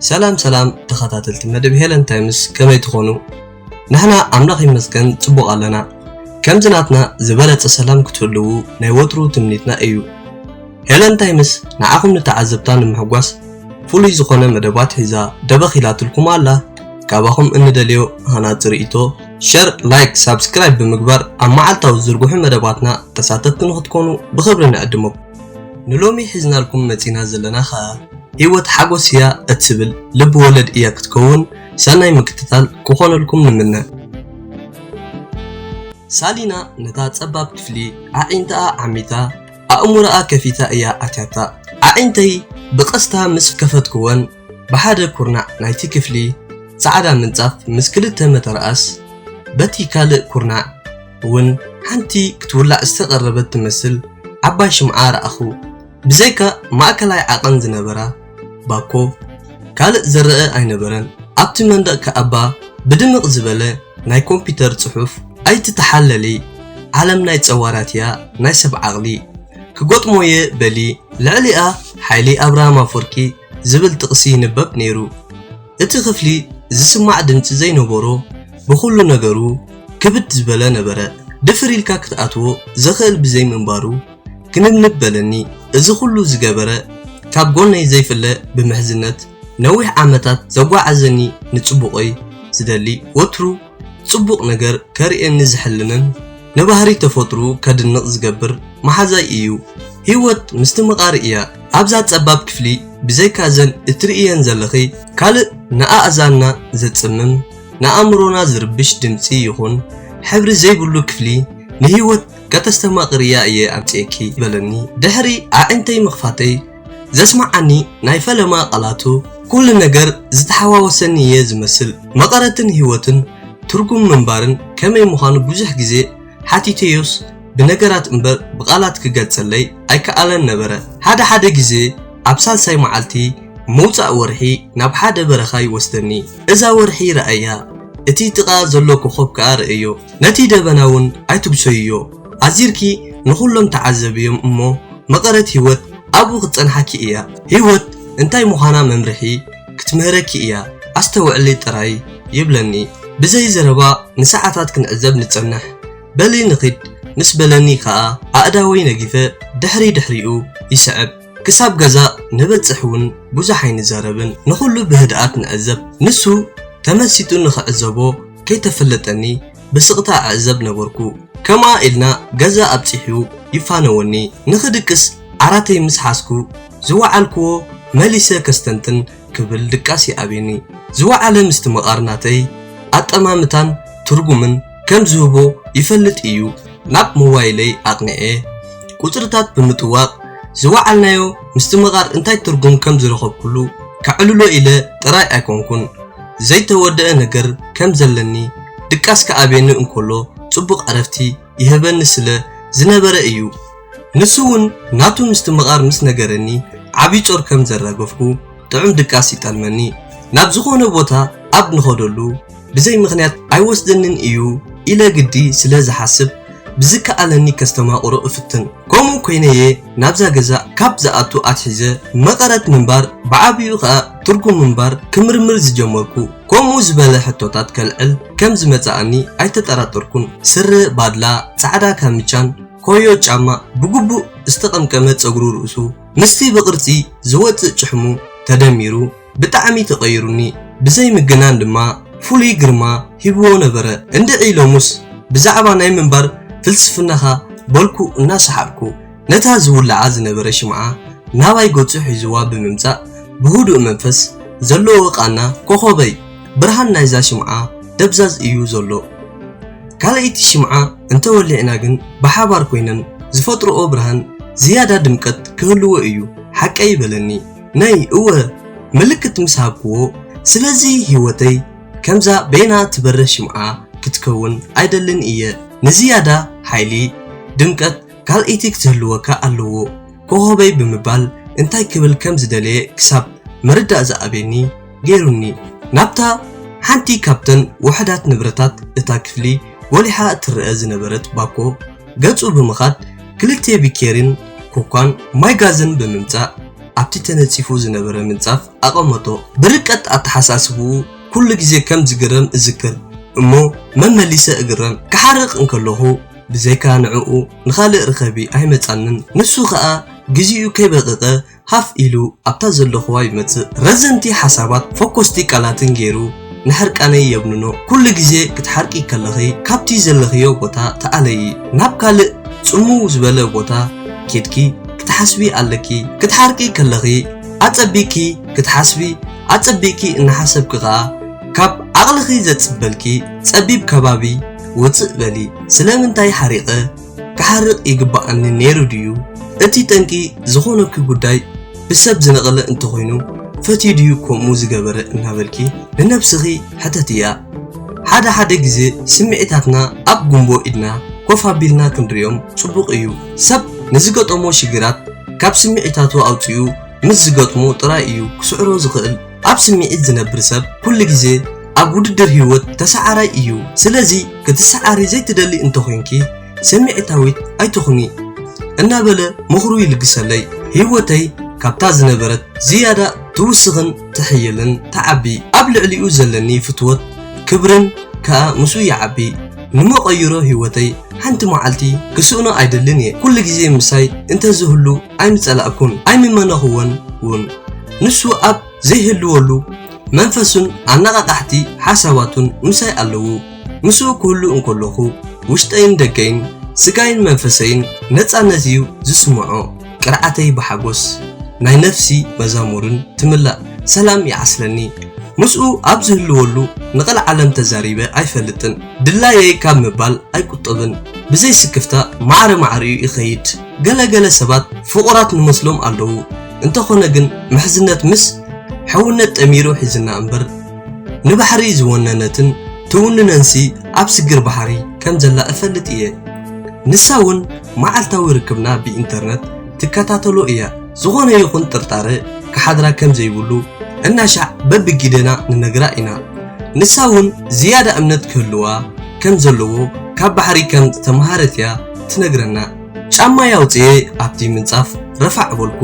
ሰላም ሰላም ተኸታተልቲ መደብ ሄለን ታይምስ ከመይ ትኾኑ ንሕና ኣምላኽ ይመስገን ጽቡቕ ኣለና ከምዚ ናትና ዝበለጸ ሰላም ክትህልዉ ናይ ወትሩ ትምኒትና እዩ ሄለን ታይምስ ንዓኹም ንተዓዘብታ ንምሕጓስ ፍሉይ ዝኾነ መደባት ሒዛ ደበኽ ኢላትልኩም ኣላ ካባኹም እንደልዮ ሃናጺ ርእይቶ ሸር ላይክ ሳብስክራይብ ብምግባር ኣብ መዓልታዊ ዝዝርግሑ መደባትና ተሳተፍቲ ንክትኮኑ ብኽብሪ ንዕድመኩም ንሎሚ ሒዝናልኩም መጺና ዘለና ኸኣ ህይወት ሓጎስ እያ እትብል ልቢ ወለድ እያ ክትከውን ሰናይ ምክትታል ክኾነልኩም ንምነ ሳሊና ነታ ጸባብ ክፍሊ ኣዒንታኣ ዓሚታ ኣእምሮኣ ከፊታ እያ ኣትያታ ኣዒንተይ ብቐስታ ምስ ከፈትክወን ብሓደ ኩርናዕ ናይቲ ክፍሊ ጻዕዳ ምንጻፍ ምስ ክልተ መተርኣስ በቲ ካልእ ኩርናዕ እውን ሓንቲ ክትውላዕ ዝተቐረበት ትመስል ዓባይ ሽምዓ ረኣኹ። ብዘይካ ማእከላይ ዓቐን ዝነበራ ባኮ ካልእ ዝረኣ ኣይነበረን። ኣብቲ መንደቕ ከኣባ ብድምቕ ዝበለ ናይ ኮምፒተር ጽሑፍ ኣይትተሓለሊ ዓለም ናይ ጸዋራት እያ ናይ ሰብ ዓቕሊ ክገጥሞየ በሊ ልዕሊኣ ሓይሊ ኣብርሃም ኣፎርቂ ዝብል ጥቕሲ ይንበብ ነይሩ። እቲ ክፍሊ ዝስማዕ ድምጺ ዘይነበሮ፣ ብኹሉ ነገሩ ክብድ ዝበለ ነበረ። ድፍር ኢልካ ክትኣትዎ ዘኽእል ብዘይምንባሩ ክንብንብ በለኒ። እዚ ኩሉ ዝገበረ ካብ ጎነይ ዘይፍለ ብምሕዝነት ነዊሕ ዓመታት ዘጓዓዘኒ ንጽቡቐይ ዝደሊ ወትሩ፣ ጽቡቕ ነገር ከርእየኒ ዝሕልንን ንባህሪ ተፈጥርኡ ከድንቕ ዝገብር መሓዛይ እዩ። ህይወት ምስትምቓር እያ። ኣብዛ ጸባብ ክፍሊ ብዘይካ እዘን እትርእይየን ዘለኺ ካልእ ንኣእዛንና ዘጽምም ንኣእምሮና ዝርብሽ ድምጺ ይኹን ሕብሪ ዘይብሉ ክፍሊ ንህይወት ከተስተማቕርያ እየ ኣምጺኤኪ በለኒ ድሕሪ ኣዒንተይ ምኽፋተይ። ዘስመዓኒ ናይ ፈለማ ቃላቱ ኩሉ ነገር ዝተሓዋወሰኒ እየ ዝመስል። መቐረትን ህይወትን ትርጉም ምንባርን ከመይ ምዃኑ ብዙሕ ግዜ ሓቲተዮስ ብነገራት እምበር ብቓላት ክገልጸለይ ኣይከኣለን ነበረ። ሓደ ሓደ ግዜ ኣብ ሳልሳይ መዓልቲ ምውጻእ ወርሒ ናብ ሓደ በረኻ ይወስደኒ። እዛ ወርሒ ርኣያ፣ እቲ ጥቓኣ ዘሎ ኮኾብ ከኣ ርኣዮ፣ ነቲ ደበና'ውን ኣይትጉሰይዮ። ኣዚርኪ ንኹሎም ተዓዘብዮም እሞ መቐረት ሂወት ኣብኡ ክትጸንሓኪ እያ ሂወት እንታይ ምዃና መምርሒ ክትምህረኪ እያ ኣስተውዕሊ ጥራይ ይብለኒ ብዘይ ዘረባ ንሰዓታት ክንዕዘብ ንጸንሕ በሊ ንኺድ ምስ በለኒ ከኣ ኣእዳወይ ነጊፈ ድሕሪ ድሕሪኡ ይስዕብ ክሳብ ገዛ ንበጽሕ እውን ብዙሕ ኣይንዛረብን ንኹሉ ብህድኣት ንዕዘብ ንሱ ተመሲጡ ንኽዕዘቦ ከይተፈለጠኒ ብስቕታ እዕዘብ ነበርኩ። ከምኣ ኢልና ገዛ ኣብጺሑ ይፋነወኒ። ንኽድቅስ ዓራተይ ምስ ሓዝኩ ዝወዓልክዎ መሊሰ ከስተንትን ክብል ድቃስ ይኣብየኒ። ዝወዓለ ምስቲ መቓር ናተይ ኣጠማምታን ትርጉምን ከም ዝህቦ ይፈልጥ እዩ። ናብ ሞባይለይ ኣቕኒዐ ቁጽርታት ብምጥዋቕ ዝወዓልናዮ ምስቲ መቓር እንታይ ትርጉም ከም ዝረኸብኩሉ ከዕልሎ ኢለ ጥራይ ኣይኮንኩን። ዘይተወደኣ ነገር ከም ዘለኒ ድቃስ ክኣብየኒ እንከሎ ጽቡቕ ዕረፍቲ ይህበኒ ስለ ዝነበረ እዩ። ንሱውን ናቱ ምስትምቓር ምስ ነገረኒ ዓቢ ጾር ከም ዘራገፍኩ ጥዑም ድቃስ ይጠልመኒ። ናብ ዝኾነ ቦታ ኣብ ንኸደሉ ብዘይ ምኽንያት ኣይወስደንን እዩ ኢለ ግዲ ስለ ዝሓስብ ብዝከኣለኒ ከስተማቕሮ እፍትን። ከምኡ ኮይነ'የ ናብዛ ገዛ ካብ ዝኣቱ ኣትሒዘ መቐረት ምንባር ብዓቢኡ ከኣ ትርጉም ምንባር ክምርምር ዝጀመርኩ ከምኡ ዝበለ ሕቶታት ከልዕል ከም ዝመጽኣኒ ኣይተጠራጠርኩን። ስረ ባድላ፣ ጻዕዳ ካምቻን ኮዮ ጫማ፣ ብግቡእ ዝተቐምቀመ ጸጉሪ ርእሱ ምስቲ ብቕርጺ ዝወጽእ ጭሕሙ ተደሚሩ፣ ብጣዕሚ ተቀይሩኒ ብዘይ ምግናን ድማ ፍሉይ ግርማ ሂብዎ ነበረ እንድዒ ሎምስ ብዛዕባ ናይ ምንባር ፍልስፍናኻ በልኩ እናሰሓቅኩ ነታ ዝውልዓ ዝነበረ ሽምዓ ናባይ ገጹ ሒዝዋ ብምምጻእ ብህዱእ መንፈስ ዘለዎ ቃና ኮኾበይ ብርሃን ናይዛ ሽምዓ ደብዛዝ እዩ ዘሎ ካልኣይቲ ሽምዓ እንተወሊዕና ግን ብሓባር ኮይነን ዝፈጥርኦ ብርሃን ዝያዳ ድምቀት ክህልዎ እዩ ሓቀይ በለኒ ነይ እወ ምልክት ምስ ሃብክዎ ስለዚ ሂወተይ ከምዛ በይና ትበርህ ሽምዓ ክትከውን ኣይደልን እየ ንዝያዳ ሓይሊ ድምቀት ካልኣይቲ ክትህልወካ ኣለዎ ኮኾበይ ብምባል እንታይ ክብል ከም ዝደለየ ክሳብ ምርዳእ ዝኣበየኒ ገይሩኒ። ናብታ ሓንቲ ካብተን ውሑዳት ንብረታት እታ ክፍሊ ጐሊሓ እትረኣ ዝነበረት ባኮ ገጹ ብምኻድ ክልተ ቢኬሪን ኮኳን ማይ ጋዝን ብምምጻእ ኣብቲ ተነጺፉ ዝነበረ ምንጻፍ ኣቐመጦ። ብርቀት ኣተሓሳስባኡ ኩሉ ግዜ ከም ዝግረም እዝክር እሞ መመሊሰ እግረም። ክሓርቕ እንከለኹ ብዘይካ ንዕኡ ንኻልእ ርኸቢ ኣይመጻንን። ንሱ ከኣ ግዜኡ ከይበቐቐ ሃፍ ኢሉ ኣብታ ዘለኹዋ ይመጽእ ረዘንቲ ሓሳባት ፈኮስቲ ቃላትን ገይሩ ንሕርቃነይ የብንኖ ኩሉ ግዜ ክትሓርቂ ከለኺ ካብቲ ዘለኽዮ ቦታ ተኣለዪ ናብ ካልእ ጽምው ዝበለ ቦታ ኬድኪ ክትሓስቢ ኣለኪ ክትሓርቂ ከለኺ ኣጸቢቅኪ ክትሓስቢ ኣጸቢቅኪ እናሓሰብኪ ከኣ ካብ ዓቕልኺ ዘጽበልኪ ጸቢብ ከባቢ ውጽእ በሊ ስለምንታይ ሓሪቐ ክሓርቕ ይግባኣኒ ነይሩ ድዩ? እቲ ጠንቂ ዝኾነኪ ጉዳይ ብሰብ ዝነቐለ እንተኾይኑ ፈትዩ ድዩ ከምኡ ዝገበረ እናበልኪ ንነብስኺ ሕተትያ። ሓደ ሓደ ግዜ ስምዒታትና ኣብ ጉምቦ ኢድና ኮፍ ኣቢልና ክንሪኦም ጽቡቕ እዩ። ሰብ ንዝገጠሞ ሽግራት ካብ ስምዒታቱ ኣውጺኡ ምስ ዝገጥሞ ጥራይ እዩ ክስዕሮ ዝኽእል። ኣብ ስምዒት ዝነብር ሰብ ኩሉ ግዜ ኣብ ውድድር ህይወት ተሰዓራይ እዩ። ስለዚ ክትሰዓሪ ዘይትደሊ እንተኾይንኪ ስምዒታዊት ኣይትኹኒ። እናበለ ምኽሩ ይልግሰለይ። ህይወተይ ካብታ ዝነበረት ዝያዳ ትውስኽን ትሕይልን ትዓቢ። ኣብ ልዕሊኡ ዘለኒ ፍትወት ክብርን ከኣ ምስኡ ይዓቢ። ንመቐይሮ ህይወተይ ሓንቲ መዓልቲ ክስእኖ ኣይደልን እየ። ኩሉ ግዜ ምሳይ እንተዝህሉ። ኣይምጸላእኩን ኣይምመነኹዎን ውን። ንሱ ኣብ ዘይህልወሉ መንፈሱን ኣነቓቓሕቲ ሓሳባቱን ምሳይ ኣለዉ። ምስኡ ክህሉ እንከለኹ ውሽጠይን ደገይን፣ ስጋይን መንፈሰይን ነጻነት እዩ ዝስምዖ። ቅርዓተይ ብሓጎስ ናይ ነፍሲ መዛሙርን ትምላእ። ሰላም ይዓስለኒ። ምስኡ ኣብ ዝህልወሉ ንቐልዓለም ተዛሪበ ኣይፈልጥን። ድላየይ ካብ ምባል ኣይቁጠብን። ብዘይ ስክፍታ ማዕረ ማዕሪኡ ይኸይድ። ገለ ገለ ሰባት ፍቑራት ንመስሎም ኣለዉ እንተኾነ ግን ምሕዝነት ምስ ሕውነት ጠሚሩ ሒዝና እምበር ንባሕሪ ዝወነነትን ትውንነንሲ ኣብ ስግር ባሕሪ ከም ዘላ እፈልጥ እየ ንሳ ውን መዓልታዊ ርክብና ብኢንተርነት ትከታተሎ እያ ዝኾነ ይኹን ጥርጣረ ክሓድራ ከም ዘይብሉ እናሻዕ በብጊደና ንነግራ ኢና ንሳ ውን ዝያዳ እምነት ክህልዋ ከም ዘለዎ ካብ ባሕሪ ከም ዝተምሃረት እያ ትነግረና ጫማይ ኣውጺኤ ኣብቲ ምንጻፍ ረፋዕ በልኩ።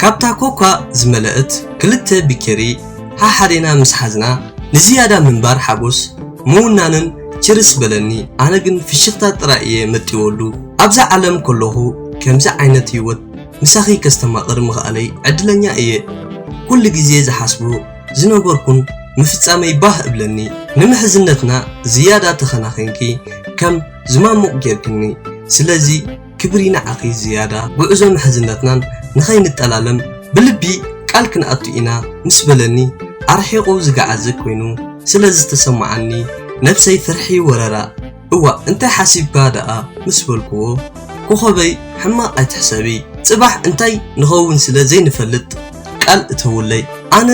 ካብታ ኮካ ዝመለእት ክልተ ቢኬሪ ሓሓዴና ምስ ሓዝና ንዝያዳ ምንባር ሓጎስ ምውናንን ችርስ በለኒ ኣነ ግን ፍሽኽታ ጥራይ እየ መጢወሉ። ኣብዛ ዓለም ከለኹ ከምዚ ዓይነት ህይወት ምሳኺ ከስተማቕር ምኽኣለይ ዕድለኛ እየ። ኩሉ ግዜ ዝሓስቦ ዝነበርኩን ምፍጻመይ ባህ እብለኒ። ንምሕዝነትና ዝያዳ ተኸናኺንኪ ከም ዝማሙቕ ጌርክኒ ስለዚ ክብሪ ንዓኺ ዝያዳ ጉዕዞ ምሕዝነትናን ንኸይንጠላለም ብልቢ ቃል ክንኣቱ ኢና ምስ በለኒ ኣርሒቑ ዝገዓዘ ኮይኑ ስለ ዝተሰማዓኒ ነብሰይ ፍርሒ ወረራ እዋእ እንታይ ሓሲብካ ደኣ ምስ በልክዎ ኮኾበይ ሕማቕ ኣይትሕሰቢ ጽባሕ እንታይ ንኸውን ስለ ዘይንፈልጥ ቃል እተውለይ ኣነ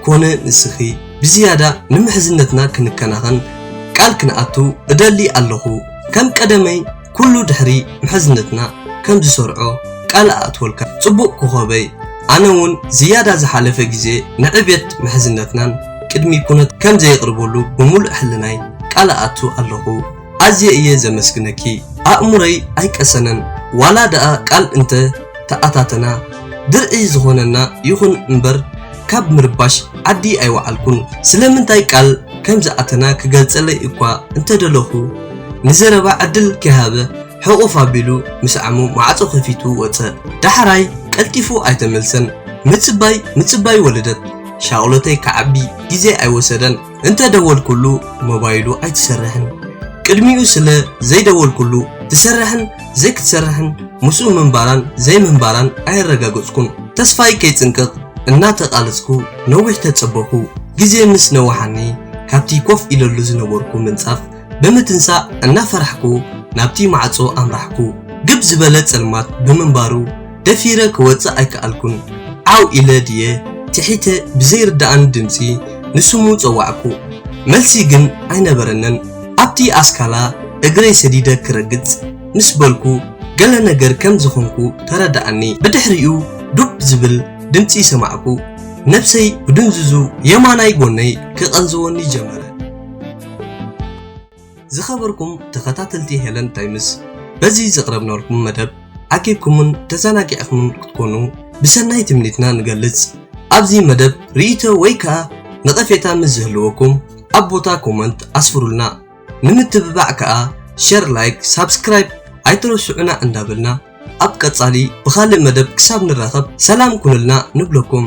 ኮነ ንስኺ ብዝያዳ ንምሕዝነትና ክንከናኸን ቃል ክንኣቱ እደሊ ኣለኹ ከም ቀደመይ ኩሉ ድሕሪ ምሕዝነትና ከም ዝሰርዖ ቃል እኣትወልካ ጽቡቕ ኮኾበይ ኣነ ውን ዝያዳ ዝሓለፈ ግዜ ንዕብየት ምሕዝነትናን ቅድሚ ኩነት ከም ዘየቕርበሉ ብምሉእ ሕልናይ ቃል እኣቱ ኣለኹ ኣዝየ እየ ዘመስግነኪ ኣእምሮይ ኣይቀሰነን ዋላ ደኣ ቃል እንተ ተኣታተና ድርዒ ዝኾነና ይኹን እምበር ካብ ምርባሽ ዓዲ ኣይወዓልኩን ስለምንታይ ቃል ከምዝኣተና ክገልጸለይ እኳ እንተደለኹ ንዘረባ ዕድል ከይሃበ ሕቑፍ ኣቢሉ ምስ ዓሙ ማዕጾ ከፊቱ ወጸ ዳሕራይ ቀልጢፉ ኣይተመልሰን ምጽባይ ምጽባይ ወለደት ሻቕሎተይ ክዓቢ ግዜ ኣይወሰደን እንተ ደወልኩሉ ሞባይሉ ኣይትሰርሕን ቅድሚኡ ስለ ዘይደወልኩሉ ትሰርሕን ዘይክትሰርሕን ምስኡ ምንባራን ዘይምንባራን ኣየረጋገጽኩን ተስፋይ ከይጽንቅቕ እናተቓለጽኩ ነዊሕ ተጸበኹ ግዜ ምስ ነዋሓኒ ካብቲ ኮፍ ኢለሉ ዝነበርኩ ምንጻፍ ብምትንሳእ እናፈራሕኩ ናብቲ ማዕጾ ኣምራሕኩ ግብ ዝበለ ጸልማት ብምንባሩ ደፊረ ክወጽእ ኣይከኣልኩን። ዓው ኢለ ድየ ትሒተ ብዘይርደኣኒ ድምጺ ንስሙ ጸዋዕኩ። መልሲ ግን ኣይነበረንን። ኣብቲ ኣስካላ እግረይ ሰዲደ ክረግጽ ምስ በልኩ ገለ ነገር ከም ዝኾንኩ ተረደኣኒ። ብድሕሪኡ ዱብ ዝብል ድምጺ ሰማዕኩ። ነብሰይ ብድንዙዙ የማናይ ጎነይ ክቐንዝወኒ ጀመረ። ዝኸበርኩም ተኸታተልቲ ሄለን ታይምስ በዚ ዘቕረብናልኩም መደብ ዓቂብኩምን ተዘናጊዕኹምን ክትኮኑ ብሰናይ ትምኒትና ንገልጽ። ኣብዚ መደብ ርእይቶ ወይ ከኣ ነቐፌታ ምስ ዝህልወኩም ኣብ ቦታ ኮመንት ኣስፍሩልና። ንምትብባዕ ከኣ ሸር፣ ላይክ፣ ሳብስክራይብ ኣይትረስዑና እንዳበልና ኣብ ቀጻሊ ብኻልእ መደብ ክሳብ ንራኸብ ሰላም ኩኑልና ንብለኩም።